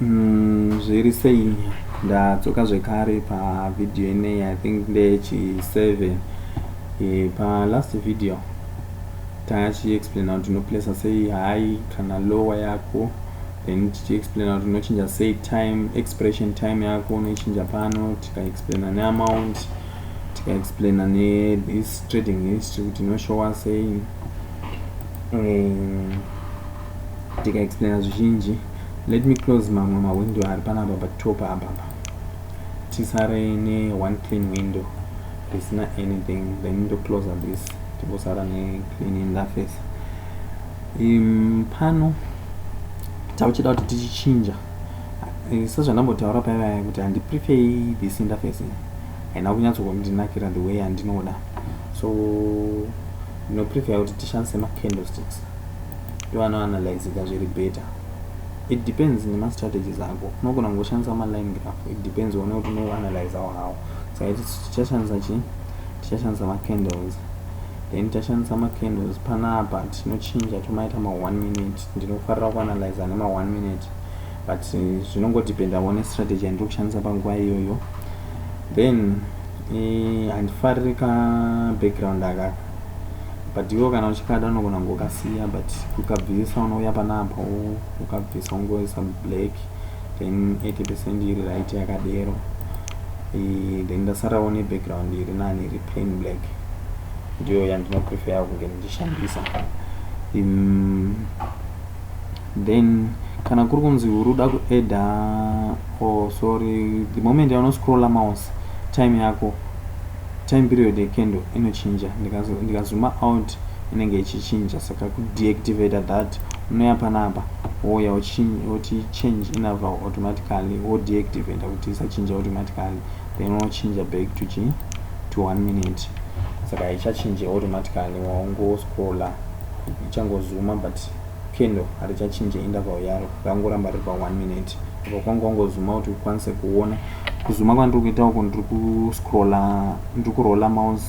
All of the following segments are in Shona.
Mm, zviri sei ndadzoka zvekare pavideo inei i think ndechi 7 e, palast video tachiexplaina kuti unoplesa sei high kana lower yako then tichiexplaina kuti unochinja sei time expression time yako unoichinja pano tikaexplaina neamount tikaexplaina nethis trading history kuti inoshowa sei um, tikaexplaina zvizhinji let me close mamwe mawindow ari panapa patop apapa tisare neone clean window risina anything then ndocloser this timbosara neclean interface um, pano tauchida kuti tichichinja eh, sezvandambotaura payaya kuti handiprefer this interface haina kunyatsokundinakira the way yandinoda so ndinoprefer kuti tishandise macandlesticks ivanoanalyzika zviri better it depends nemastrategies ako unogona kungoshandisa maline graph it depends one kuti unoanalyzawo hawo saka tichashandisa chii tichashandisa macandles then tichashandisa macandles panapa tinochinja tomaita ma1 minute ndinofarira kuanalyza nema1 minute but eh, zvinongodependa one strategy yandiri kushandisa panguva iyoyo then eh, handifariri ka background akaka but iwo kana uchikada unogona kungokasiya but kukabvisa unouya panapa ukabvisa ungoisa black then 80 percent iri right yakadero e, then ndasarawo nebackground iri nani iri plain black ndiyo yandinopreferya kunge ndichishandisa um, then kana kuri kunzi uri uda kueda or oh, sorry the moment yaunoscrolla mouse time yako Time period ye candle inochinja ndika zuma out inenge ichichinja saka ku deactivator that unoya panapa wouya woti change inner val automatically wo deactivator kuti isachinja automatically then unochinja back to chi to one minute saka haichachinje automatically waungo scroller ichangozuma but Candle harichachinje interval yaro rakangoramba riri pa 1 minute apa kwanga wangozuma kuti ukwanise kuona kuzuma kwandiri kuita uku ndiri kuscrolla ndiri kurolla mouse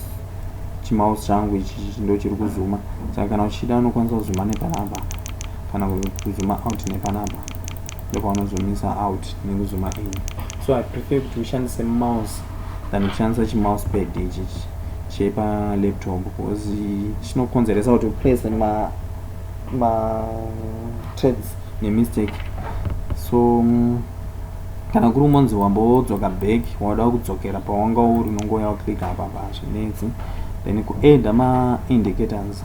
chimouse changu ichi ndo chiri kuzuma saka kana uchida unokwanisa kuzuma nepanapa kana kuzuma out nepanapa ndopaunozumisa out nekuzuma in so i prefer kuti ushandise mouse than kushandisa chimouse pad ichi chepa laptop because chinokonzeresa kuti uprese ma ma trades nemistake so mm, kana kuri umonzi wambodzoka back wada kudzokera pawanga uri unongouya waclick apa pazvinetsi then kuadda maindicators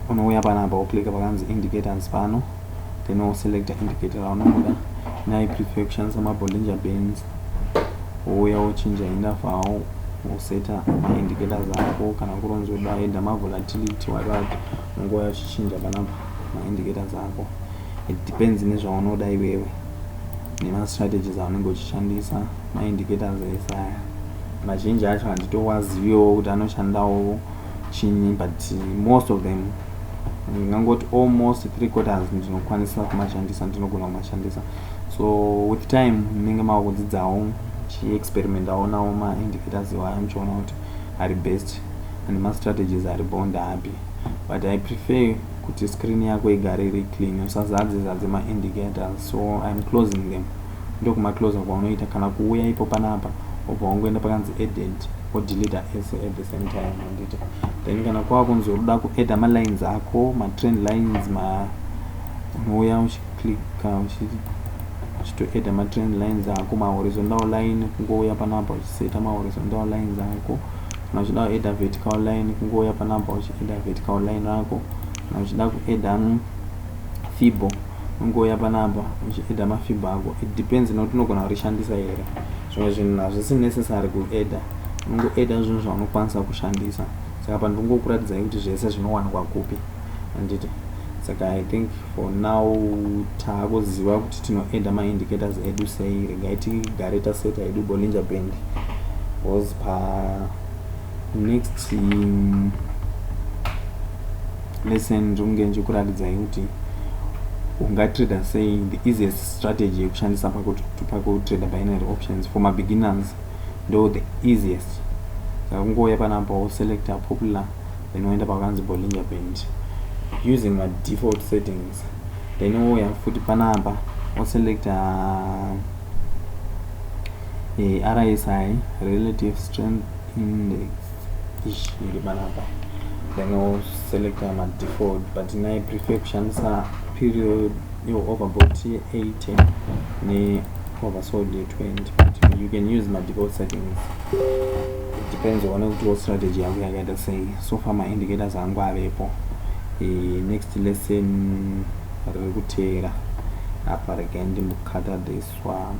unouya panapa woclicka pakanzi indicators pano then woselecta indicator raunongoda nai prefer kushandisa mabollinger bands wouya wochinja interval woseta ma indicators ako kana kuri unzi uda either ma volatility whatever ungouya uchichinja panapa ma indicators ako it depends nezvaunoda iwewe nema strategies aunenge uchishandisa ma indicators ese aya mazhinji acho handitowaziviwo kuti anoshandawo chinyi but most of them ndingangoti almost three quarters ndinokwanisa kumashandisa ndinogona kumashandisa so with time munenge mava kudzidzawo chiexperimentawo nawo maindicators iwaya muchiona kuti ari best and mastrategies ari bond api but i prefer kuti screen yako igare iri clean usazadze zadze maindicators so im closing them ndokumaclosa kwaunoita kana kuuya ipo panapa obva wangoenda pakanzi edit odeleta ese at the same time anditi then kana kwava kunzi uruda kuadda malines ako matrain lines ma unouya clicker uchitoedha matrend lines ako mahorizontal line kungouya panapa uchiseta mahorizontal lines ako kana uchida kuedha vertical line kungouya panapa uchiedha vertical line ako kana uchida kuedha mm, fibo ungouya panapa uchiedha mafibo ako it depends nokuti unogona kurishandisa here zvimwe zvinhu hazvisi necessary kuedha unongoedha zvinhu zvaunokwanisa kushandisa saka pandingokuratidzai kuti zvese zvinowanikwa kupi handiti saka i think for now taakuziva kuti tinoedha maindicators edu sei regai tigare taseta edu bolinja band bcause pa next um, lesson ndinge ndichikuratidzai kuti ungatrader sei the easiest strategy yekushandisa pakutrader binary options for mabeginners ndo the easiest saka kungouya panapa woselecta popular then woenda pakanzi bollinger band using ma default settings then wouya futi panapa woselecta eh, rsi relative strength index iri panapa then woselecta ma default but nai prefer kushandisa period iwo overbolt ye 80 ne oversold ye 20 but you can use madefault settings it depends one kuti wo strategy yako yakaita sei so far maindicators angu avepo e, next lesson riri kuteera apa regai ndimbokata this one